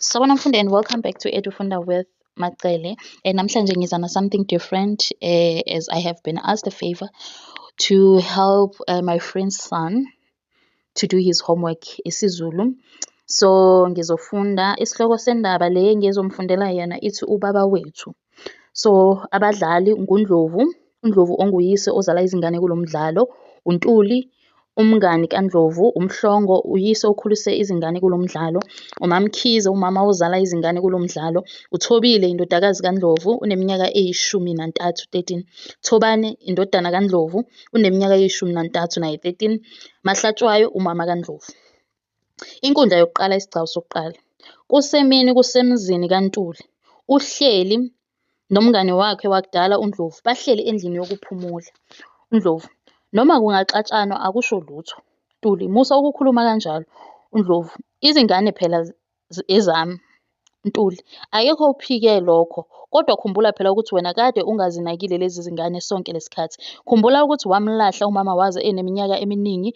Sawubona mfundi and welcome back to Edufunda with Macele. And namhlanje ngiza na something different uh, as I have been asked a favor to help uh, my friend's son to do his homework isiZulu. So ngizofunda isihloko sendaba le ngizomfundela yena ithi ubaba wethu. So, abadlali nguNdlovu, uNdlovu onguyise ozala izingane kulo mdlalo, uNtuli umngani kaNdlovu, uMhlongo uyise okhulise izingane kulo mdlalo, uMaMkhize umama ozala izingane kulo mdlalo, uThobile indodakazi kaNdlovu uneminyaka eyishumi nantathu, 13, Thobane indodana kaNdlovu uneminyaka eyishumi nantathu naye, 13, Mahlatshwayo umama kaNdlovu. Inkundla yokuqala isigcawu sokuqala. Kusemini kusemzini kaNtuli. Uhleli nomngani wakhe wakudala uNdlovu. Bahleli endlini yokuphumula. UNdlovu, Noma kungaxatshanwa akusho lutho. Ntuli, Musa ukukhuluma kanjalo. UNdlovu, Izingane phela ezami. Ntuli, Akekho ophike lokho. Kodwa khumbula phela ukuthi wena kade ungazinakile lezi zingane sonke lesikhathi. Khumbula ukuthi wamlahla umama waze eneminyaka eminingi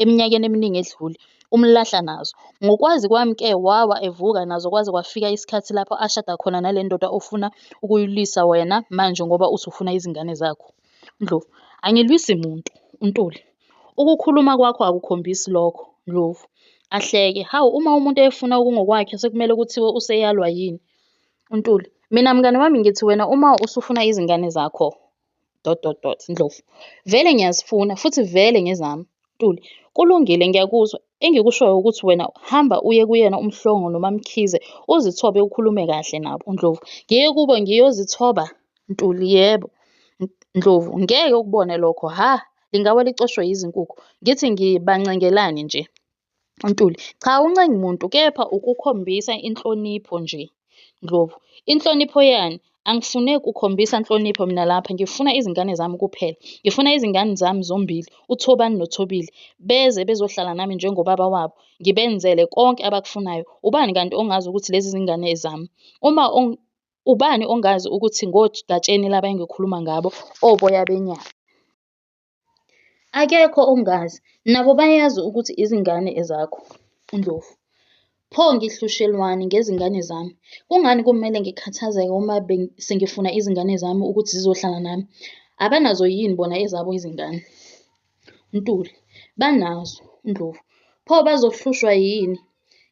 eminyakeni eminingi edlule. Umlahla nazo. Ngokwazi kwami ke wawa evuka nazo kwaze kwafika isikhathi lapho ashada khona nale ndoda ofuna ukuyilwisa wena manje ngoba usufuna izingane zakho. Ndlovu, Angilwisi muntu. UNtuli, Ukukhuluma kwakho akukhombisi lokho. Ndlovu, Ahleke, Hawu uma umuntu efuna okungokwakhe sekumele kuthiwe useyalwa yini? UNtuli, Mina mngani wami ngithi wena uma usufuna izingane zakho dot dot dot. Ndlovu, Vele ngiyazifuna futhi vele ngezami. Ntuli, Kulungile ngiyakuzwa. Engikushoyo ukuthi wena hamba uye kuyena uMhlongo noMaMkhize uzithobe ukhulume kahle nabo. Ndlovu, Ngiye kubo ngiyozithoba? Ntuli, Yebo. Ndlovu, Ngeke ukubone lokho, hha! lingawa licoshwe yizinkukhu ngithi ngibancengelani nje untuli cha uncengi muntu kepha ukukhombisa inhlonipho nje ndlovu inhlonipho yani angifune kukhombisa nhlonipho mina lapha ngifuna izingane zami kuphela ngifuna izingane zami zombili uthobani nothobile beze bezohlala nami njengobaba wabo ngibenzele konke abakufunayo ubani kanti ongazi ukuthi lezi zingane zami uma Ubani ongazi ukuthi ngoGatsheni laba engikhuluma ngabo, oboya benyama? Akekho ongazi. Nabo bayazi ukuthi izingane ezakho, uNdlovu. Pho ngihlushelwani ngezingane zami? Kungani kumele ngikhathazeke uma sengifuna izingane zami ukuthi zizohlala nami? Abanazo yini bona ezabo izingane? Ntuli, Banazo, Ndlovu, pho bazohlushwa yini?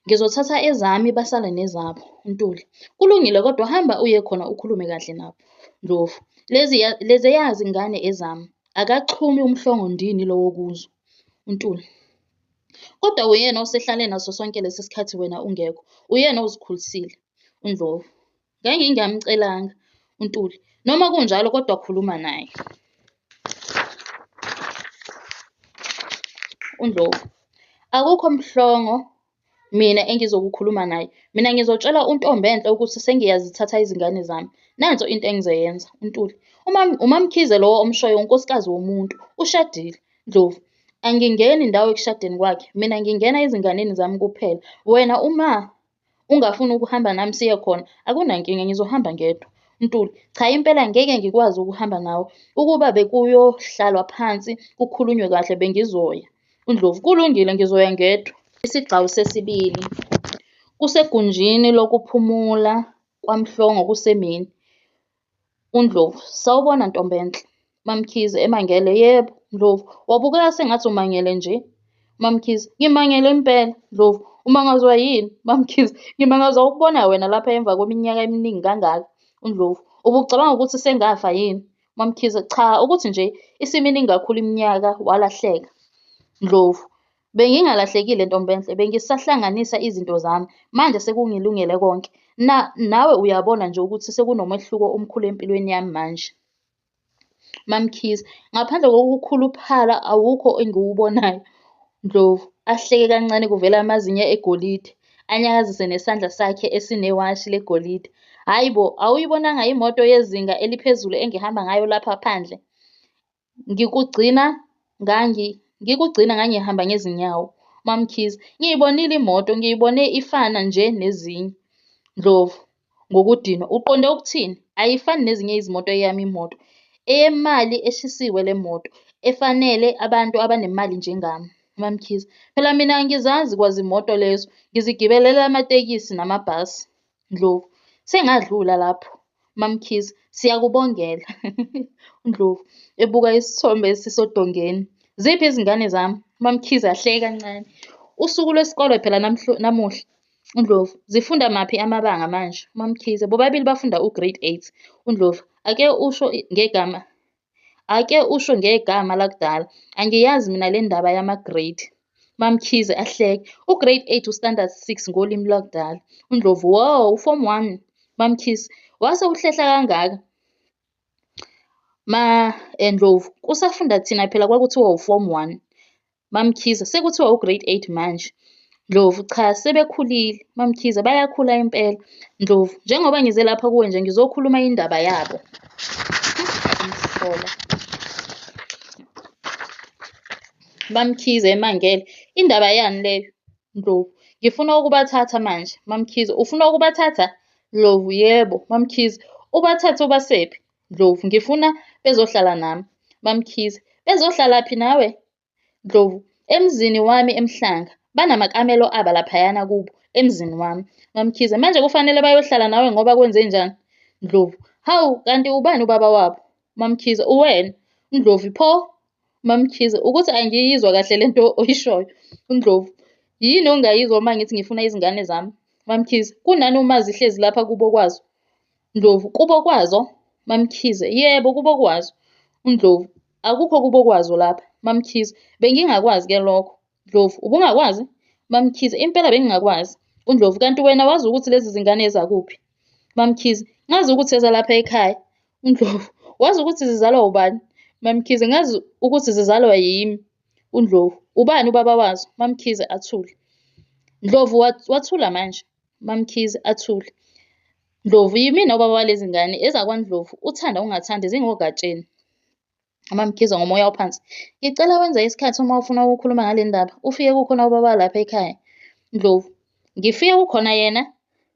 Ngizothatha ezami basale nezabo. Ntuli, Kulungile kodwa hamba uye khona ukhulume kahle nabo. Ndlovu, Leziya leziya zingane ezami. Akaxhumi umhlongo ndini lowo kuzo. Ntuli, Kodwa uyena osehlale naso sonke lesi sikhathi wena ungekho. Uyena ozikhulisile. UNdlovu, Ngangingamcelanga uNtuli. Noma kunjalo kodwa khuluma naye. UNdlovu. Akukho mhlongo mina engizokukhuluma naye. Mina ngizotshela uNtombenhle ukuthi sengiyazithatha izingane zami. Nanso into engizoyenza. UNtuli. Uma uMamkhize lowo omshoyo unkosikazi womuntu. Ushadile. Ndlovu. Angingeni ndawo ekushadeni kwakhe. Mina ngingena ezinganeni zami kuphela. Wena uma Ungafuni ukuhamba nami siye khona? Akunankinga, ngizohamba ngedwa. Ntuli, cha impela ngeke ngikwazi ukuhamba nawe. Ukuba bekuyohlalwa phansi kukhulunywe kahle bengizoya. UNdlovu, kulungile ngizoya ngedwa. Isigcawu sesibili. Kusegunjini lokuphumula kwaMhlongo kusemini. UNdlovu, Sawubona Ntombenhle. MaMkhize, emangele, Yebo. Ndlovu, Wabukeka sengathi umangele nje. MaMkhize, Ngimangele impela. Ndlovu, Umangazwa yini? MaMkhize, Ngimangazwa ukubona wena lapha emva kweminyaka eminingi kangaka. UNdlovu, Ubucabanga ukuthi sengafa yini? MaMkhize, Cha ukuthi nje isiminingi kakhulu iminyaka walahleka. Ndlovu, Bengingalahlekile ntombenhle, bengisahlanganisa izinto zami, manje sekungilungele konke. Na, nawe uyabona nje ukuthi sekunomehluko omkhulu empilweni yami manje. MaMkhize, ngaphandle kokukhuluphala awukho engiwubonayo. Ndlovu, ahleke kancane kuvela amazinyo egolide, anyakazise nesandla sakhe esinewashi legolide. Hhayi bo, awuyibonanga imoto yezinga eliphezulu engihamba ngayo lapha phandle? Ngikugcina ngangi ngikugcina ngangihamba ngezinyawo. MaMkhize, Ngiyibonile imoto, ngiyibone ifana nje nezinye. Ndlovu, ngokudinwa, Uqonde ukuthini? Ayifani nezinye izimoto eyami imoto. Eyemali eshisiwe le moto, efanele abantu abanemali njengami. MaMkhize, Phela mina angizazi kwazimoto lezo, ngizigibelela amatekisi namabhasi. Ndlovu, Sengadlula lapho MaMkhize, siyakubongela. UNdlovu, ebuka isithombe esisodongeni, Ziphi izingane zami? MaMkhize, ahleke kancane, Usuku lwesikole phela namuhla. UNdlovu, Zifunda maphi amabanga manje? MaMkhize, Bobabili bafunda uGrade 8. UNdlovu, Ake usho ngegama Ake usho ngegama lakudala. Angiyazi mina le ndaba yama-grade. MaMkhize, ahleke. U-grade 8 u-standard 6 ngolimi lwakudala. UNdlovu, wo, u-form 1. MaMkhize, wase uhlehla kangaka? Ma-Ndlovu, eh, kusafunda thina phela kwakuthiwa u-form 1. MaMkhize, Sekuthiwa ugrade eight manje. Ndlovu, Cha sebekhulile. MaMkhize, Bayakhula impela. Ndlovu, Njengoba ngize lapha kuwe nje ngizokhuluma indaba yabo. Mhlola. MaMkhize, Emangele, Indaba yani leyo? Ndlovu, Ngifuna ukubathatha manje. MaMkhize, Ufuna ukubathatha? Ndlovu, Yebo. MaMkhize, Ubathathe ubasephi? Ndlovu, Ngifuna bezohlala nami. MaMkhize, Bezihlalaphi nawe? Ndlovu, Emzini wami eMhlanga. Banamakamelo aba laphayana kubo, emzini wami. MaMkhize, Manje kufanele bayohlala nawe ngoba kwenzenjani? Ndlovu, Hawu, kanti ubani ubaba wabo? MaMkhize, Uwena. Ndlovu, Pho? MaMkhize, Ukuthi angiyizwa kahle le nto oyishoyo. Ndlovu, Yini ongayizwa uma ngithi ngifuna izingane zami? MaMkhize, Kunani uma zihlezi lapha kubo kwazo? Ndlovu, Kubo kwazo? MaMkhize, Yebo kubo kwazo. UNdlovu, Akukho kubo kwazo lapha. MaMkhize, Bengingakwazi ke lokho. Ndlovu, Ubungakwazi? MaMkhize, Impela bengingakwazi. UNdlovu, Kanti wena wazi ukuthi lezi zingane ezakuphi? MaMkhize, Ngazi ukuthi ezalapha ekhaya. UNdlovu, Wazi ukuthi zizalwa ubani? MaMkhize, Ngazi ukuthi zizalwa yimi. UNdlovu, Ubani ubaba wazo? MaMkhize, Athule. Ndlovu, Wathula manje. UMaMkhize, Athule. Ndlovu, Yimina ubaba walezi ngane ezakwaNdlovu, uthanda ungathandi zingoGatsheni. UMaMkhize, ngomoya ophansi, Ngicela wenze isikhathi uma ufuna ukukhuluma ngale ndaba, ufike kukhona ubaba lapha ekhaya. Ndlovu, Ngifike kukhona yena?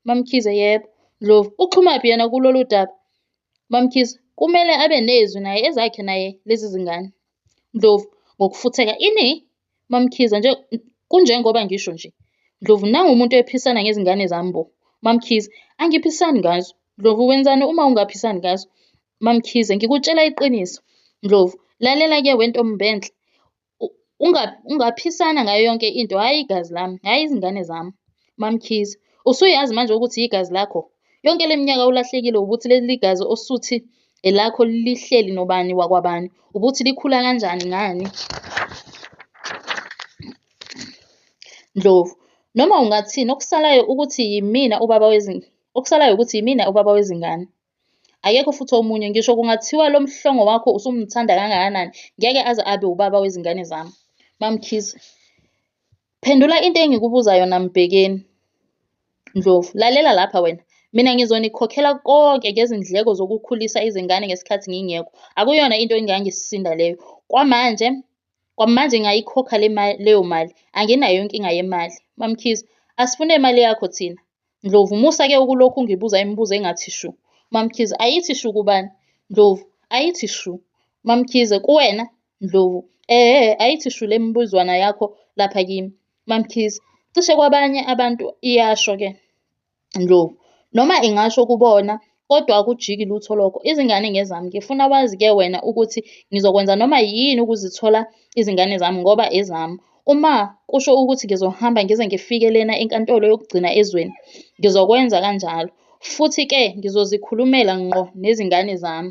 MaMkhize, Yebo. Ndlovu, Uxhumaphi yena kulolu daba? MaMkhize, Kumele abe nezwi naye ezakhe naye lezi zingane. Ndlovu, Ngokufutheka, Ini? MaMkhize, Nje kunjengoba ngisho nje. Ndlovu, Nangu umuntu ephisana ngezingane zami bo. MaMkhize, Angiphisani ngazo. Ndlovu, Wenzani uma ungaphisani ngazo? MaMkhize, Ngikutshela iqiniso. Ndlovu, Lalela ke wentombenhle. Ungaphisana ngayo yonke into, hhayi igazi lami, hhayi izingane zami. MaMkhize, Usuyazi manje ukuthi yigazi lakho? Yonke le minyaka ulahlekile wukuthi leli gazi osuthi elakho lihleli nobani wakwabani, ukuthi likhula kanjani ngani. Ndlovu, Noma ungathini okusalayo ukuthi yimina ubaba wezingane, okusalayo ukuthi yimina ubaba wezingane. Akekho futhi omunye, ngisho kungathiwa lo mhlongo wakho usumthanda kangakanani ngeke aze abe ubaba wezingane zami. MaMkhize, Phendula into engikubuza yona Mbhekeni. Ndlovu, Lalela lapha wena. Mina ngizonikhokhela konke ngezindleko zokukhulisa izingane ngesikhathi ngingekho. Akuyona into engangisinda leyo. Kwamanje kwamanje ngiyayikhokha leyo mali. Anginayo inkinga yemali. MaMkhize, Asifune imali yakho thina. Ndlovu, Musa ke ukulokhu ungibuza imibuzo engathi shu. MaMkhize, Ayithi shu kubani? Ndlovu, Ayithi shu. MaMkhize, Kuwena? Ndlovu, Ehhe ayithi shu le mibuzwana yakho lapha kimi. MaMkhize, Cishe kwabanye abantu iyasho ke. Ndlovu, Noma ingasho kubona Kodwa akujiki lutho lokho. Izingane ngezami. Ngifuna wazi ke wena ukuthi ngizokwenza noma yini ukuzithola izingane zami ngoba ezami. Uma kusho ukuthi ngizohamba ngize ngifike lena enkantolo yokugcina ezweni, ngizokwenza kanjalo. Futhi ke ngizozikhulumela ngqo nezingane zami.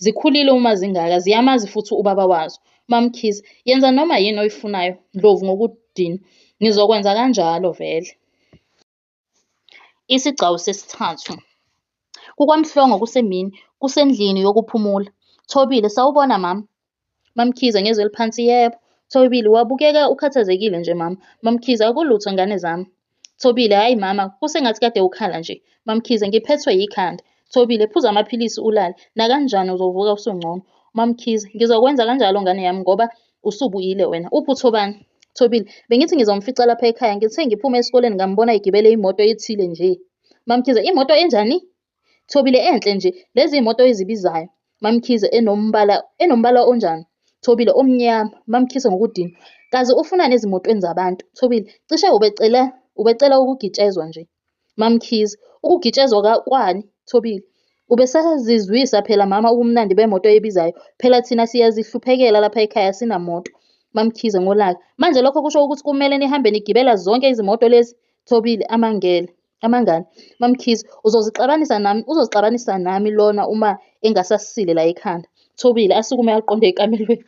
Zikhulile uma zingaka, ziyamazi futhi ubaba wazo. MaMkhize, Yenza noma yini oyifunayo, Ndlovu ngokudinwa. Ngizokwenza kanjalo vele. Isigcawu sesithathu. KukwaMhlongo kusemini, kusendlini yokuphumula. Thobile, Sawubona mama. MaMkhize, ngezwi eliphansi, Yebo. Thobile, Wabukeka ukhathazekile nje mama. MaMkhize, Akulutho ngane zami. Thobile, Hhayi mama, kusengathi kade ukhala nje. MaMkhize, Ngiphethwe yikhanda. Thobile, Phuza amaphilisi ulale, nakanjani uzovuka usungcono. MaMkhize, Ngizokwenza kanjalo ngane yami ngoba Usubuyile wena. Uphi uThobani? Thobile, bengithi ngizomfica lapha ekhaya. Ngithe ngiphume esikoleni ngambona egibele imoto ethile nje. MaMkhize, imoto enjani? Thobile, enhle nje. Lezi imoto ezibizayo. MaMkhize, enombala enombala onjani? Thobile, omnyama. MaMkhize ngokudina. Kazi ufuna nezimotweni zabantu. Thobile, cishe ubecela ubecela ukugitshezwa nje. MaMkhize, Ukugitshezwa kwani Thobile? Ubesazizwisa phela mama ubumnandi bemoto ebizayo, phela thina siyazihluphekela lapha ekhaya asinamoto. MaMkhize, Ngolaka, Manje lokho kusho ukuthi kumele nihambe nigibela zonke izimoto lezi? Thobile, Amangele. Amangani? MaMkhize, Uzozixabanisa nami, uzozixabanisa nami lona uma engasasile la ekhanda. Thobile, Asukume aqonde ekamelweni.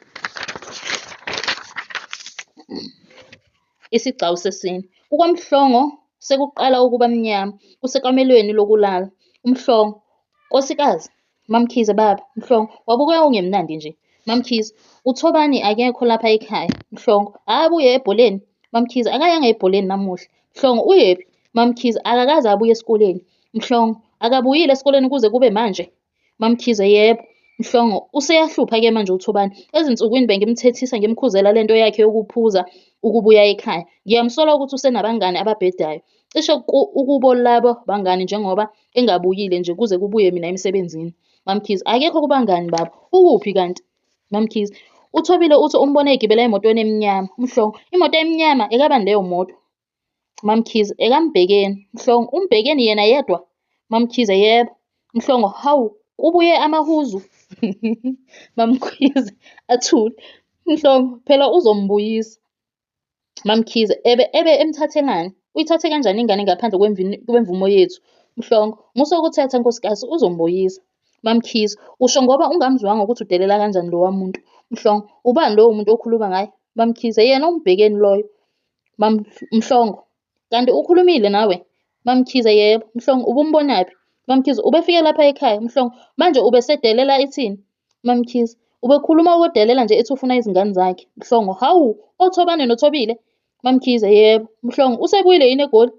Isigcawu sesine. KukaMhlongo sekuqala ukuba mnyama. Kusekamelweni lokulala. UMhlongo. Nkosikazi. MaMkhize, Baba. Mhlongo. Wabukeka ungemnandi nje. MaMkhize. UThobani akekho lapha ekhaya. Mhlongo. Hhayi abuye ebholeni. MaMkhize. Akayanga ebholeni namuhla. Mhlongo. Uyephi? MaMkhize. Akakaze abuye esikoleni. Mhlongo. Akabuyile esikoleni kuze kube manje. MaMkhize, Yebo. Mhlongo, Useyahlupha-ke manje uThobani. Ezinsukwini bengimthethisa ngimkhuzela le nto yakhe yokuphuza ukubuya ekhaya. Ngiyamsola ukuthi usenabangani ababhedayo. Cishe ukubo labo bangani njengoba engabuyile nje kuze kubuye mina emsebenzini. MaMkhize, Akekho kubangani baba. Ukuphi kanti? MaMkhize, UThobile uthi umbone egibela emotweni emnyama. Mhlongo, Imoto emnyama? Ekabani leyo moto? MaMkhize, EkaMbhekeni. Mhlongo, UMbhekeni yena yedwa? MaMkhize, Yebo. Mhlongo, Hawu, kubuye amahuzu? MaMkhize, Athule. Mhlongo, Phela uzombuyisa. MaMkhize, Ebe ebe emthathe ngani? Uyithathe kanjani ingane ngaphandle kwemvumo yethu? Mhlongo, Musa ukuthatha nkosikazi, uzombuyisa. MaMkhize, Usho ngoba ungamzwanga ukuthi udelela kanjani lowa muntu? Mhlongo, Ubani lowo muntu okhuluma ngaye? MaMkhize, Yena uMbhekeni loyo. Mhlongo, Kanti ukhulumile nawe? MaMkhize, Yebo. Mhlongo, Ubumbonaphi? MaMkhize, Ubefike lapha ekhaya. Mhlongo, Manje ubesedelela ithini? MaMkhize, Ubekhuluma ukudelela nje ethi ufuna izingane zakhe. Mhlongo, Hawu, oThobane noThobile? MaMkhize, Yebo. Mhlongo, Usebuyile yini eGoli?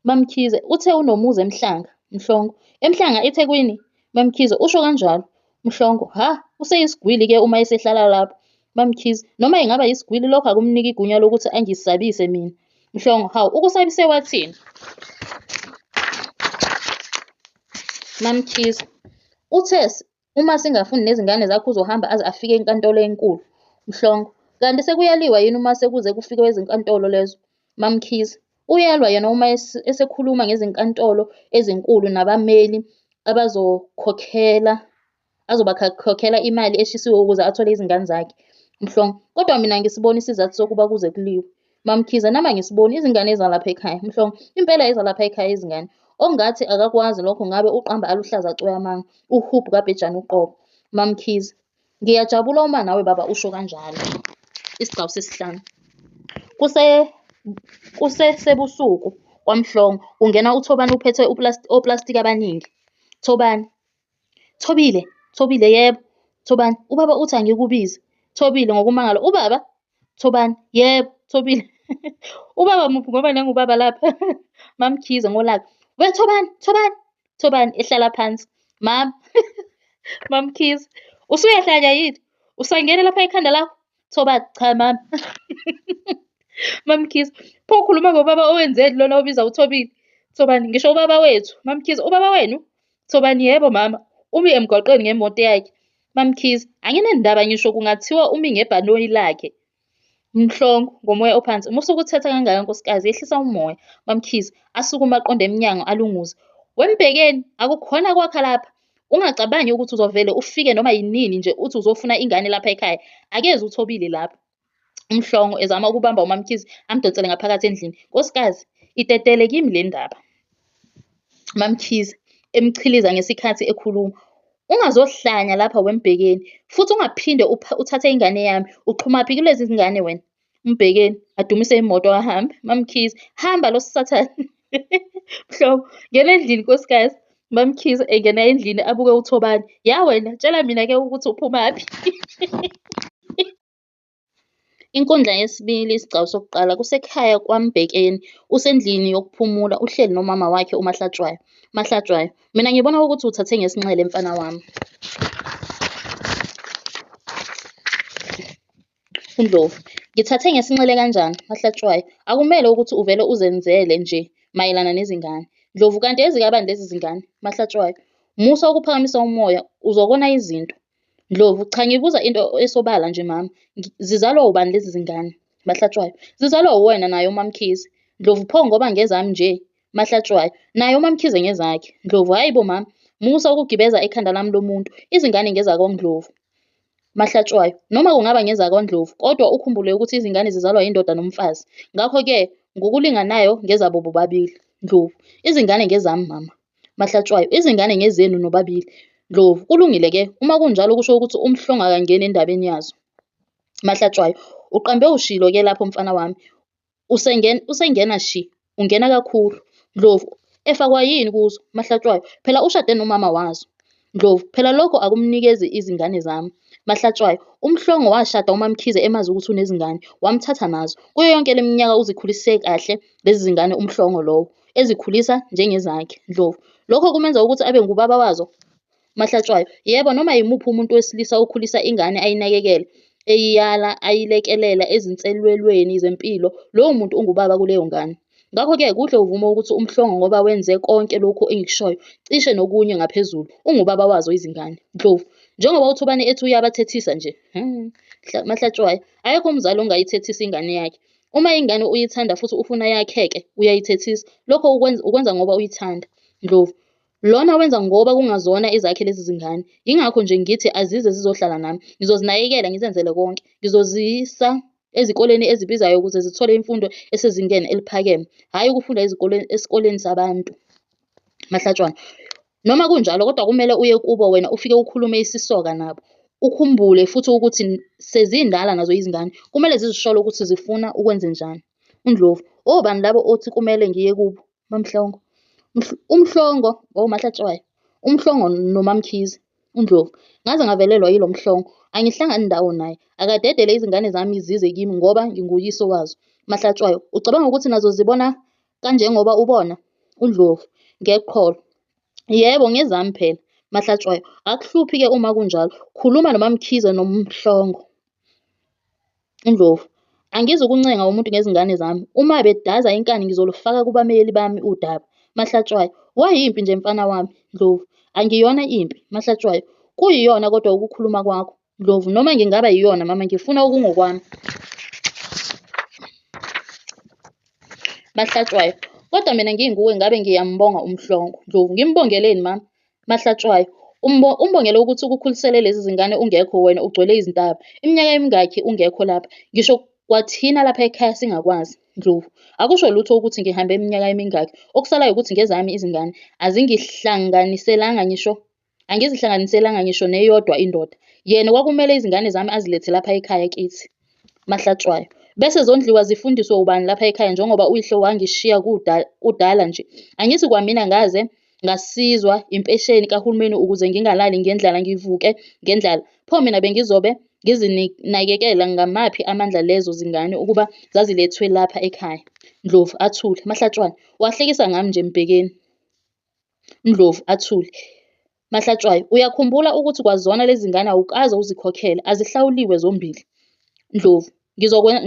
MaMkhize, Uthe unomuzi eMhlanga? Mhlongo, EMhlanga, eThekwini? MaMkhize, Usho kanjalo? Mhlongo, Hha! Useyisigwili-ke uma esehlala lapho. MaMkhize, Noma engaba yisigwili lokho akumniki igunya lokuthi angisabise mina. Mhlongo, Hawu, ukusabise wathini? MaMkhize, Uthe Uma singafuni nezingane zakho uzohamba aze afike enkantolo enkulu. Mhlongo, Kanti sekuyaliwa yini uma sekuze kufikwe ezinkantolo lezo? MaMkhize, Uyalwa yena uma esekhuluma ngezinkantolo ezinkulu nabameli abazokhokhela azobakhokhela imali eshisiwe ukuze athole izingane zakhe. Mhlongo, Kodwa mina angisiboni isizathu sokuba kuze kuliwe. Mamkhize, Nama ngisiboni izingane ezalapha ekhaya. Mhlongo, Impela ezalapha ekhaya izingane. Ongathi akakwazi lokho ngabe uqamba aluhlaza cwe amanga. Uhub kabhejane uqobo. Mamkhize, Ngiyajabula uma nawe baba usho kanjalo. Isigcawu sesihlanu. Kuse kusesebusuku kwaMhlongo kungena uThobani uphethe oplastic abaningi. Thobani, Thobile, Thobile, Yebo. Thobani, Ubaba uthi angikubize. Thobile, Ngokumangala, Ubaba? Thobani, Yebo. Thobile, Ubaba muphi ngoba nangu ubaba lapha. MaMkhize, Ngolaka, We Thobani, Thobani, Thobani, ehlala phansi. Mama, MaMkhize, Usuyahlanya yini? Usangene lapha ekhanda lakho? Thobani, Cha mama. MaMkhize, Pho ukhuluma ngobaba owenzeni lona obiza uThobile? Thobani, Ngisho ubaba wethu. MaMkhize, Ubaba wenu? Thobani, Yebo mama, umi emgwaqweni ngemoto yakhe. MaMkhize, Anginandaba ngisho kungathiwa umi ngebhanoyi lakhe. Mhlongo, ngomoya ophansi, Musa ukuthetha kangaka nkosikazi, yehlisa umoya. MaMkhize, asukume aqonde emnyango alunguze. WeMbhekeni, akukhona kwakha lapha. Ungacabangi ukuthi uzovele ufike noma yinini nje uthi uzofuna ingane lapha ekhaya. Akezi uThobile lapha. uMhlongo, ezama ukubamba uMaMkhize, amdonsele ngaphakathi endlini. Nkosikazi, itetele kimi le ndaba. MaMkhize, emchiliza ngesikhathi ekhuluma. Ungazohlanya lapha weMbhekeni, futhi ungaphinde uthathe ingane yami. Uxhumaphi kulezi zingane wena? uMbhekeni, adumise imoto ahambe. MaMkhize, hamba lo sathane. Mhlobo, ngena endlini nkosikazi. MaMkhize engena endlini abuke uThobani. Ya wena, tshela mina ke ukuthi uphumaphi. Inkundla yesibili, isigcawu sokuqala, kusekhaya kwaMbhekeni. Usendlini yokuphumula, uhleli nomama wakhe uMahlatshwayo. Mahlatshwayo, mina ngibona ukuthi uthathe ngesinxele mfana wami. UNdlovu, Ngithathe ngesinxele kanjani, Mahlatshwayo? Akumele ukuthi uvele uzenzele nje mayelana nezingane. Ndlovu, Kanti ezikabani lezi zingane? Mahlatshwayo, Musa ukuphakamisa umoya, uzokona izinto. Ndlovu, Cha ngibuza into esobala nje mama. Zizalwa ubani lezi zingane? Mahlatshwayo, Zizalwa uwena naye uMaMkhize. Ndlovu, Pho ngoba ngezami nje? Mahlatshwayo, Naye uMaMkhize ngezakhe. Ndlovu, Hhayi bo mama, musa ukugibeza ekhanda lami lomuntu, izingane ngezakoNdlovu. Mahlatshwayo, Noma kungaba ngezakwaNdlovu, kodwa ukhumbule ukuthi izingane zizalwa yindoda nomfazi. Ngakho-ke ngokulinganayo ngezabo bobabili. Ndlovu, Izingane ngezami mama. Mahlatshwayo, Izingane ngezenu nobabili. Ndlovu, Kulungile-ke, uma kunjalo kusho ukuthi uMhlongo akangeni endabeni yazo. Mahlatshwayo, Uqambe ushilo-ke lapho mfana wami. Usengena, usengena shi. Ungena kakhulu. Ndlovu, Efakwa yini kuzo, Mahlatshwayo? Phela ushade nomama wazo. Ndlovu, Phela lokho akumnikezi izingane zami. Mahlatshwayo, UMhlongo washada uMaMkhize emazi ukuthi unezingane, wamthatha nazo. Kuyo yonke le minyaka uzikhulise kahle lezi zingane uMhlongo lowo, ezikhulisa njengezakhe. Ndlovu, Lokho kumenza ukuthi abe ngubaba wazo? Mahlatshwayo, Yebo, noma yimuphi umuntu wesilisa okhulisa ingane ayinakekele, eyiyala, ayilekelela ezinselwelweni zempilo, lowo muntu ungubaba kuleyo ngane. Ngakho-ke kuhle uvume ukuthi umhlongo ngoba wenze konke lokhu engikushoyo, cishe nokunye ngaphezulu. Ungubaba wazo izingane. Ndlovu, Njengoba uThobani ethi uyabathethisa nje. Hmm. Mahlatshwayo, Akekho umzali ongayithethisa ingane yakhe. Uma ingane uyithanda futhi ufuna yakheke, uyayithethisa. Lokho ukwenza ngoba uyithanda. Ndlovu, Lona wenza ngoba kungazona ezakhe lezi zingane. Yingakho nje ngithi azize zizohlala nami. Ngizozinakekela ngizenzele konke. Ngizozisa ezikoleni ezibizayo ukuze zithole imfundo esezingeni eliphakeme, hhayi ukufunda ezikoleni esikoleni sabantu. Mahlatshwana. Noma kunjalo kodwa kumele uye kubo wena ufike ukhulume isisoka nabo. Ukhumbule futhi ukuthi sezindala nazo izingane. Kumele zizisholo ukuthi zifuna ukwenzenjani. UNdlovu. Obani labo othi kumele ngiye kubo? MaMhlongo, uMhlongo or uMahlatshwayo, uMhlongo noMaMkhize, uNdlovu. Ngaze ngavelelwa yilo Mhlongo, angihlangani ndawo naye. Akadedele izingane zami zize kimi ngoba nginguyise wazo. Mahlatshwayo, ucabanga ukuthi nazo zibona kanjengoba ubona? UNdlovu, ngeqholo. Yebo, ngezami phela. Mahlatshwayo, akuhluphi-ke uma kunjalo. Khuluma noMaMkhize noMhlongo. Indlovu, Angizukuncenga umuntu ngezingane zami. Uma bedaza inkani ngizolufaka kubameli bami udaba. Mahlatshwayo, Wayimpi nje mfana wami. Ndlovu, Angiyona impi. Mahlatshwayo, Kuyiyona kodwa ukukhuluma kwakho. Ndlovu, Noma ngingaba yiyona mama ngifuna okungokwami. Mahlatshwayo, Kodwa mina nginguwe ngabe ngiyambonga umhlongo. Ndlovu, Ngimbongeleni mama? Mahlatshwayo, Umbongela ukuthi ukukhulisele lezi zingane ungekho wena ugcwele izintaba. Iminyaka emingakhi ungekho lapha? Ngisho kwathina lapha ekhaya singakwazi. Ndlovu, Akusho lutho ukuthi ngihambe iminyaka emingakhi. Okusalayo ukuthi ngezami izingane. Azingihlanganiselanga ngisho angizihlanganiselanga ngisho neyodwa indoda. Yena kwakumele izingane zami azilethe lapha ekhaya kithi. Mahlatshwayo, Bese zondliwa zifundiswe ubani lapha ekhaya njengoba uyihlo wangishiya kudala nje. Angithi kwamina ngaze ngasizwa impesheni kahulumeni ukuze ngingalali ngendlala ngivuke ngendlala. Pho mina bengizobe ngizinakekela ngamaphi amandla lezo zingane ukuba zazilethwe lapha ekhaya? Ndlovu, Athule. Mahlatshwayo, Wahlekisa ngami nje Mbhekeni. Ndlovu, Athule. Mahlatshwayo, Uyakhumbula ukuthi kwazona lezi zingane awukaze uzikhokhele, azihlawuliwe zombili. Ndlovu,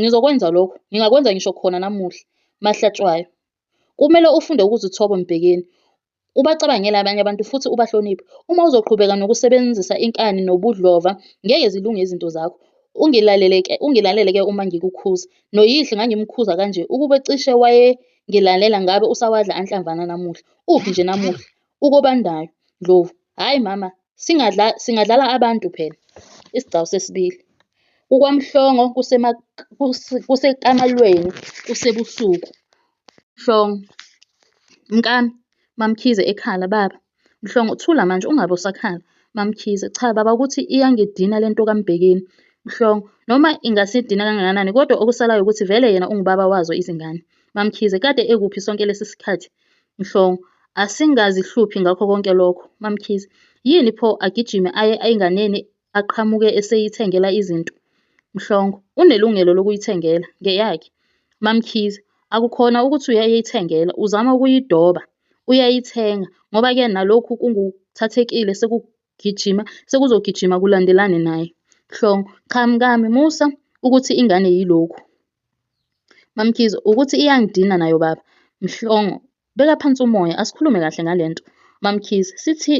Ngizokwenza lokho, ngingakwenza ngisho khona namuhla. Mahlatshwayo, Kumele ufunde ukuzithoba Mbhekeni. Ubacabangele abanye abantu futhi ubahloniphe. Uma uzoqhubeka nokusebenzisa inkani nobudlova, ngeke zilunge izinto zakho. Ungilalele-ke ungilalele ke uma ngikukhuza. Noyihle ngangimkhuza kanje ukube cishe wayengilalela ngabe usawadla anhlamvana namuhla. Uphi nje namuhla? UKobandayo, Ndlovu, Hhayi mama singadla singadlala abantu phela isigcawu sesibili. KukwaMhlongo kusekamalweni kusebusuku. Mhlongo, Mkami, MaMkhize, ekhala, Baba. Mhlongo, Thula manje ungabe usakhala. MaMkhize, Cha baba ukuthi iyangidina le nto kaMbhekeni. Mhlongo, Noma ingasidina kangakanani kodwa okusalayo ukuthi vele yena ungubaba wazo izingane. MaMkhize, Kade ekuphi sonke lesi sikhathi? Mhlongo, Asingazihluphi ngakho konke lokho. MaMkhize, Yini pho agijime aye enganeni aqhamuke eseyithengela izinto? Mhlongo, Unelungelo lokuyithengela, ngeyakhe. MaMkhize, Akukhona ukuthi uyayithengela, uzama ukuyidoba. Uyayithenga ngoba ke nalokhu kunguthathekile sekugijima sekuzogijima kulandelane naye. Mhlongo, Cha mkami musa ukuthi ingane yilokhu. MaMkhize, Ukuthi iyangidina nayo baba. Mhlongo, Beka phansi umoya asikhulume kahle ngale nto. MaMkhize,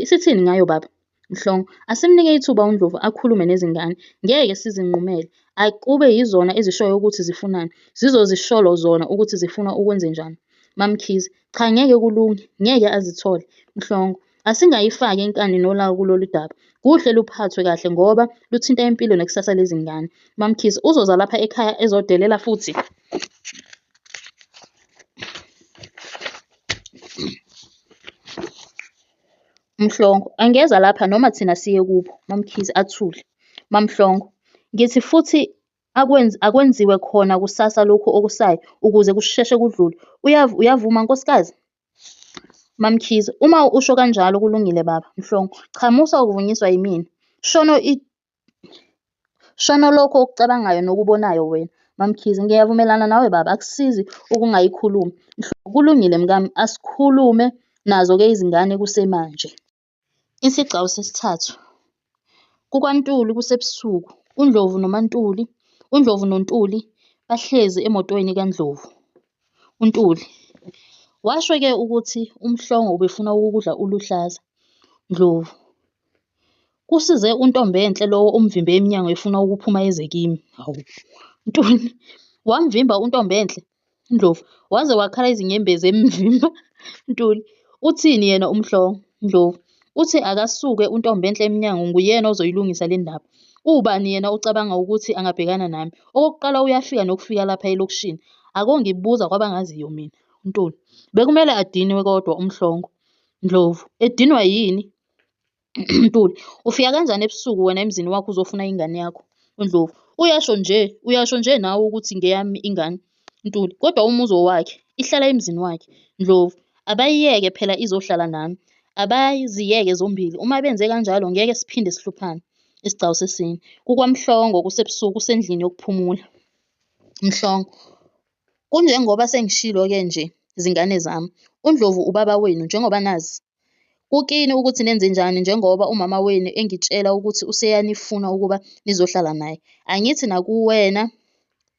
Sithini ngayo baba? Mhlongo, Asimnike ithuba uNdlovu akhulume nezingane. Ngeke sizinqumele. Akube yizona ezishoyo ukuthi zifunani. Zizozisholo zona ukuthi zifuna ukwenzenjani. MaMkhize, Cha ngeke kulunge, ngeke azithole. Mhlongo, Asingayifaki inkani nolawu kulolu daba. Kuhle luphathwe kahle ngoba luthinta impilo nekusasa lezingane. MaMkhize, Uzoza lapha ekhaya ezodelela futhi? Mhlongo, Angeza lapha noma thina siye kubo. MaMkhize, Athule. MaMhlongo, Ngithi futhi akwenzi, akwenziwe khona kusasa lokhu okusayo ukuze kusheshe kudlule. Uyav, uyavuma, nkosikazi? MaMkhize, uma usho kanjalo kulungile baba. Mhlongo, cha musa ukuvunyiswa yimina. Shono i Shono lokho okucabangayo nokubonayo wena. MaMkhize, ngiyavumelana nawe baba, akusizi ukungayikhulumi. Kulungile mkami, asikhulume nazo ke izingane kusemanje. Isigcawu sesithathu, KukwaNtuli kusebusuku. UNdlovu noMaNtuli, UNdlovu noNtuli bahlezi emotweni kaNdlovu. UNtuli, Washo ke ukuthi uMhlongo ubefuna ukukudla uluhlaza. Ndlovu, Kusize uNtombenhle lowo umvimbe emnyango efuna ukuphuma eze kimi. Hawu. Ntuli, Wamvimba uNtombenhle? Ndlovu, Waze wakhala izinyembezi emvimba. Ntuli, Uthini yena uMhlongo? Ndlovu, Uthi akasuke uNtombenhle emnyango nguyena ozoyilungisa le ndaba. Uwubani yena ocabanga ukuthi angabhekana nami? Okokuqala uyafika nokufika lapha elokishini. Akongibuza kwabangaziyo mina. Ntuli, Bekumele adinwe kodwa uMhlongo. Ndlovu, Edinwa yini? Ntuli, Ufika kanjani ebusuku wena emzini wakho uzofuna ingane yakho? UNdlovu, Uyasho nje, uyasho nje nawe ukuthi ngeyami ingane. Ntuli, Kodwa umuzi owakhe, ihlala emzini wakhe. Ndlovu, Abayiyeke phela izohlala nami. Abaziyeke zombili, uma benze kanjalo ngeke siphinde sihluphane. Isigcawu sesine. KukwaMhlongo kusebusuku usendlini yokuphumula. Mhlongo, Kunjengoba sengishilo-ke nje zingane zami. UNdlovu ubaba wenu njengoba nazi Kukini ukuthi nenzenjani njengoba umama wenu engitshela ukuthi useyanifuna ukuba nizohlala naye. Angithi nakuwena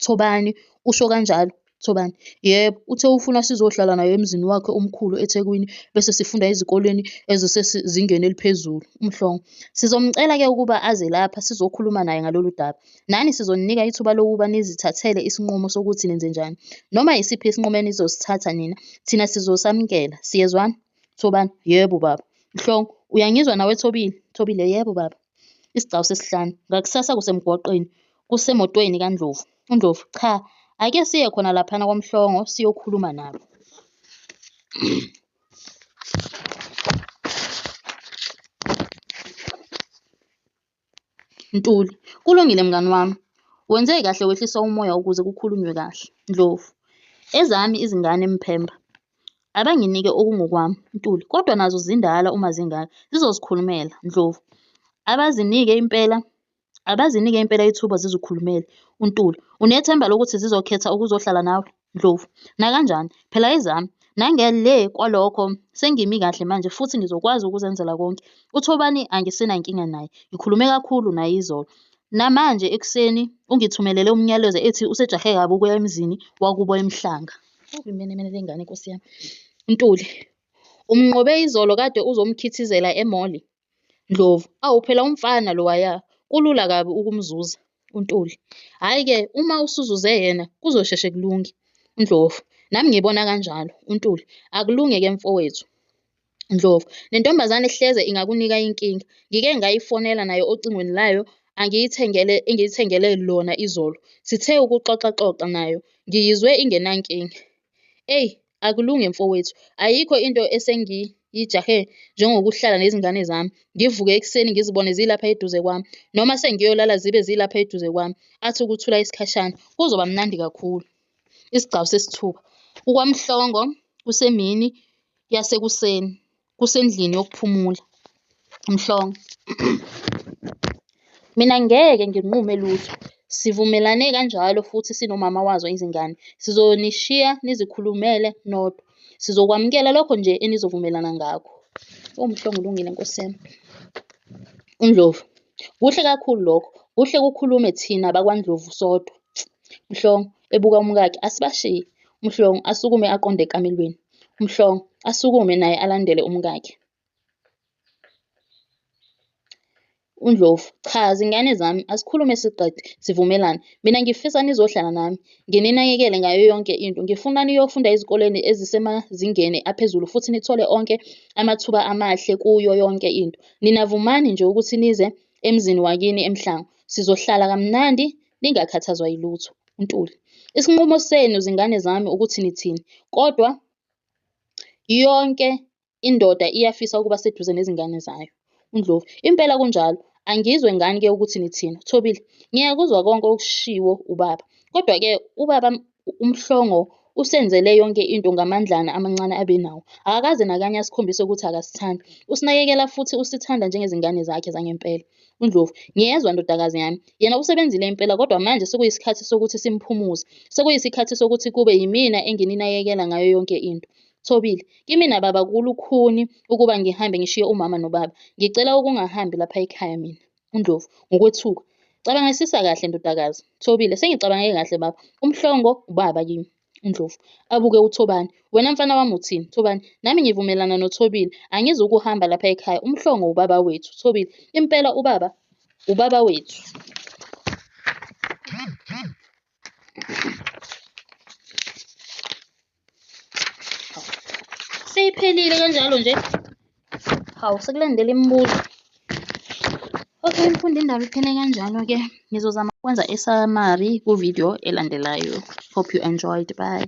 Thobani usho kanjalo? Thobani, Yebo, uthe ufuna sizohlala naye emzini wakhe omkhulu eThekwini bese sifunda ezikoleni ezisezingeni eliphezulu. UMhlongo, Sizomcela-ke ukuba aze lapha sizokhuluma naye ngalolu daba. Nani sizoninika ithuba lokuba nizithathele isinqumo sokuthi nenzenjani. Noma yisiphi isinqumo enizosithatha nina, thina sizosamukela. Siyezwana? Thobani, Yebo, baba. Mhlongo, uyangizwa nawe Thobile? Thobile, Yebo, baba. Isigcawu sesihlanu. Ngakusasa kusemgwaqeni. Kusemotweni kaNdlovu. UNdlovu, Cha, ake siye khona laphana kwaMhlongo siyokhuluma nabo. Ntuli, Kulungile mngani wami, wenze kahle wehlisa umoya ukuze kukhulunywe kahle. Ndlovu, Ezami izingane Mphemba, abanginike okungokwami. Ntuli, Kodwa nazo zindala uma zingaka, zizozikhulumela. Ndlovu, Abazinike impela, abazinike impela ithuba zizikhulumele. UNtuli, Unethemba lokuthi zizokhetha ukuzohlala nawe? Ndlovu, Nakanjani, phela ezami. Nangele kwalokho sengimi kahle manje futhi ngizokwazi ukuzenzela konke. UThobani angisenankinga naye. Ngikhulume kakhulu naye izolo. Namanje ekuseni ungithumelele umnyalezo ethi usejahe kabi ukuya emzini wakubo eMhlanga. Imenemene le ngane nkosi yami. Ntuli, Umnqobe izolo kade uzomkhithizela emoli. Ndlovu, Awu phela umfana lowaya kulula kabi ukumzuza. UNtuli, Hhayi-ke uma usuzuze yena kuzosheshe kulunge. UNdlovu, Nami ngibona kanjalo. UNtuli, Akulunge-ke mfowethu. Ndlovu, Nentombazane hleze ingakunika inkinga. Ngike ngayifonela nayo ocingweni layo angiyithengele engiyithengele lona izolo. Sithe ukuxoxaxoxa nayo ngiyizwe ingenankinga. Eyi Akulunge mfowethu. Ayikho into esengiyijahe njengokuhlala nezingane zami, ngivuke ekuseni ngizibone zilapha eduze kwami, noma sengiyolala zibe zilapha eduze kwami. Athi ukuthula isikhashana, kuzoba mnandi kakhulu. Isigcawu sesithuba. KukwaMhlongo, kusemini yasekuseni. kusendlini yokuphumula, uMhlongo. Mina ngeke nginqume lutho. Sivumelane kanjalo futhi sinomama wazo izingane. Sizonishiya nizikhulumele nodwa. Sizokwamukela lokho nje enizovumelana ngakho. UMhlongo ulungile nkosi yami. UNdlovu. Kuhle kakhulu lokho. Kuhle kukhulume thina bakwaNdlovu sodwa. Mhlongo, ebuka umkakhe, asibashiye. Mhlongo, asukume aqonde ekamelweni. uMhlongo asukume naye alandele umkakhe. UNdlovu, cha zingane zami asikhulume siqede sivumelane. Mina ngifisa nizohlala nami, ngininakekele ngayo yonke into. Ngifuna niyofunda ezikoleni ezisemazingeni aphezulu futhi nithole onke amathuba amahle kuyo yonke into. Nina vumani nje ukuthi nize emzini wakini eMhlango. Sizohlala kamnandi Ningakhathazwa yilutho. UNtuli, Isinqumo senu zingane zami ukuthi nithini, kodwa yonke indoda iyafisa ukuba seduze nezingane zayo. UNdlovu, Impela kunjalo. Angizwe ngani-ke ukuthi nithini. UThobile, Ngiyakuzwa konke okushiwo ubaba. Kodwa-ke ubaba uMhlongo usenzele yonke into ngamandlana amancane abe nawo. Akakaze nakanye asikhombise ukuthi akasithandi. Usinakekela futhi usithanda njengezingane zakhe zangempela. UNdlovu, Ngiyezwa ndodakazi yami. Yena usebenzile impela kodwa manje sekuyisikhathi sokuthi simphumuze. Sekuyisikhathi sokuthi kube yimina engininakekela ngayo yonke into. Thobile, Kimina baba kulukhuni ukuba ngihambe ngishiye umama nobaba. Ngicela ukungahambi lapha ekhaya mina. UNdlovu, ngokwethuka, Cabangisisa kahle ndodakazi. Thobile, Sengicabange kahle baba. UMhlongo ubaba kimi. UNdlovu, abuke uThobani, Wena mfana wami uthini? Thobani, Nami ngivumelana noThobile. Angizukuhamba lapha ekhaya. UMhlongo ubaba wethu. Thobile, Impela ubaba ubaba wethu. Seyiphelile kanjalo nje. Hawu sekulandela imibuzo. Okay, mfundi indaba iphele kanjalo-ke. Ngizozama ukwenza i-summary ku-video elandelayo. Hope you enjoyed. Bye.